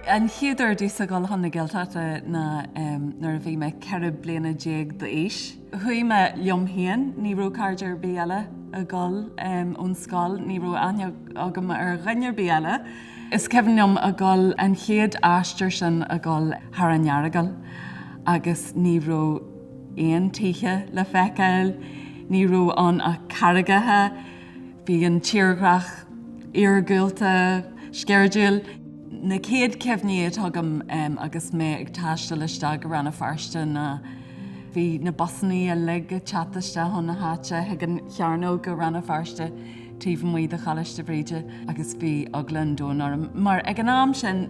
An chéad uair domhsa ag gabháil chun na Gaeltachta ná nuair a bhí mé 14 bliana d'aois. Chuaigh mé liom féin, ní raibh cairde ar bith eile ag gabháil ón scoil, ní raibh aithne agam ar dhuine ar bith eile. Is cuimhin liom ag gabháil an chéad aistear sin ag gabháil thar an Earagal agus ní raibh aon tithe le feiceáil, ní raibh ann ach carraigeacha. Bhí an tírdhreach iargúlta, sceirdiúil. Na céad cuimhní atá agam agus mé ag taisteal isteach go Rann na Feirste ná bhí na busannaí uilig ag teacht isteach chun na háite chuig an chearnóg i Rann na Feirste taobh amuigh de Choláiste Bhríde agus bhí eagla an domhain orm mar ag an am sin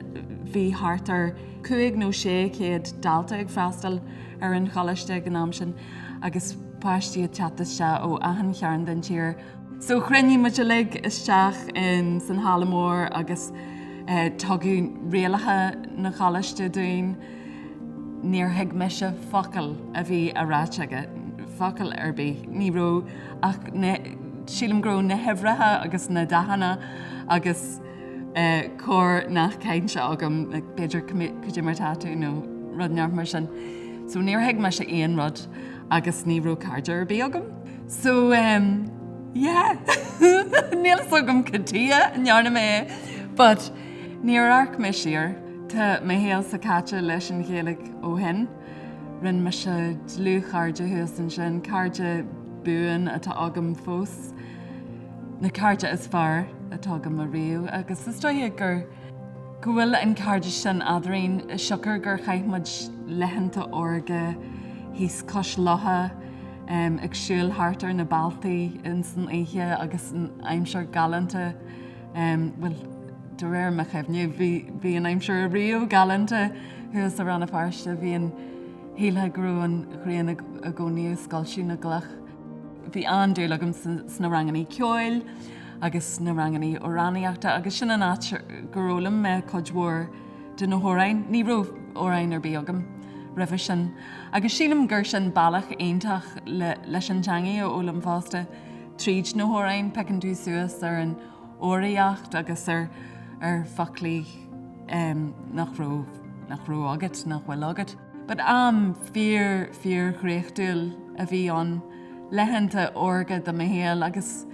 bhí thart ar cúig nó sé chéad dalta ag freastal ar an choláiste ag an am sin agus páistí ag teacht isteach ó achan chearn den tír. So chruinnigh muid uilig isteach in san halla mór agus tugadh rialacha na choláiste dúinn. Níor thuig mise focal a bhí á ráit aige, focal ar bith. Ní raibh ach na, sílim go raibh na huimhreacha agus na dathanna agus. corrnath cainte agam, b'fhéidir cad é mar tá tú nó rud inteacht mar sin. So níor thuig mise aon rud agus ní raibh cairde ar bith agam. So ehm yeah níl fhios agam cad tuige a ndearna mé é but níor amharc mé siar. Tá mo shaolsa caite leis an Ghaeilge ó shin. Rinne mise dlúthchairde thuas ansin, cairde buan atá agam fós. na cairde is fearr atá agam ariamh agus is dóigh gur go bhfuil an cairdeas sin eadrainn siocair gur chaith muid laethanta órga thíos cois locha ag siúl thart ar na bealtaí ins an oíche agus an aimsir galánta bhuel de réir mo chuimhne bhí bhí an aimsir ariamh galánta thuas i Rann na Feirste bhíonn shílfeá go raibh an ghrian i gcónaí ag scoilteadh na gcloch. Bhí an-dúil agam sna rangannaí ceoil agus sna rangannaí amhránaíochta agus sin an áit gur fhoghlaim mé cuid mhór de na hamhráin, ní raibh amhrán ar bith agam roimhe sin, agus sílim gur sin bealach iontach leis an teangaidh a fhoghlaim fosta, tríd na hamhráin, piocann tú suas ar an fhoghraíocht agus ar foclaí nach raibh agat, nach bhfuil agat. Ba am fíor fíor dhraochtúil a bhí ann, laethanta órga de mo shaol agus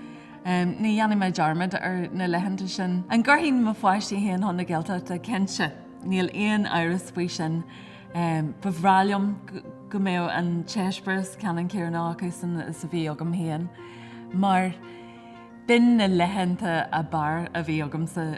ní dhéanfaidh mé dearmad ar na laethanta sin. An gcuirfidh mo pháistí féin chun na Gaeltachta? Cinnte, níl aon amhras faoi sin. Ba bhreá liom go mbeadh an t-eispéireas ceannann céanna acusan is a bhí agam féin mar b'in na laethanta ab fhearr a bhí agamsa.